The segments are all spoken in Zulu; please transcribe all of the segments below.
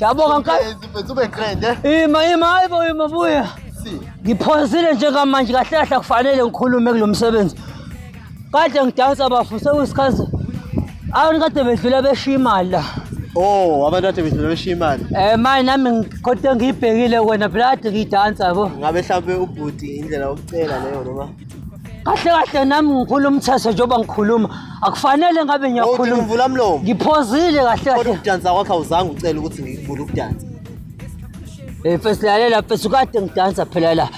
Yabonga mkhaya. Izimfethu ube grand eh. Ima ima hayibo ima buya. Si. Ngiphonsile njengamanje kahle kahle kufanele ngikhulume kulomsebenzi. Kade ngidansa bafu sekusikhathi. Awuni kade bedlula beshiya imali la. Oh, abantu kade bedlula beshiya imali. Eh manje nami ngikhothe ngiyibhekile kwena blood ngidansa yabo. Ngabe mhlambe ubhuti indlela yokucela leyo noma kahle kahle nami ngiphula umthetho njengoba ngikhuluma akufanele ngabe Uthi ngiyakhuluma ngivula mlomo. ngiphozile kahle Kodwa kahle ukudansa kwakho awuzange ucele ukuthi ngikuvule ukudansa. Eh, mfethu lalela mfethu kade ngidansa phela la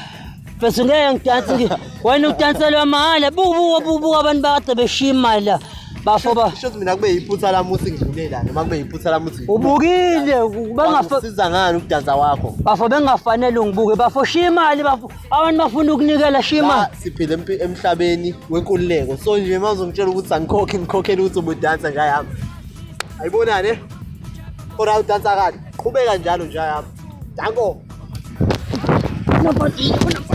mfethu ngeke ngidanse ngi- wena udanselwa mahhala bubuka bubuka abantu bakade beshiya imali la bafo ba Shuthi mina kube yiphutha lami ukuthi ngidlule la noma kube yiphutha lami ukuthi ubukile bengafa Siza ngani ukudansa kwakho? bafo bengafanele ungibuke bafo shiya imali bafo abantu bafuna ukunikela shima siphila emhlabeni wenkululeko so nje uma uzongitshela ukuthi angikhokhe ngikhokhele ukuthi ubudansa nje ayami ayibonani eh? ora udansa kani qhubeka njalo nje ayami danko Nobody, nobody.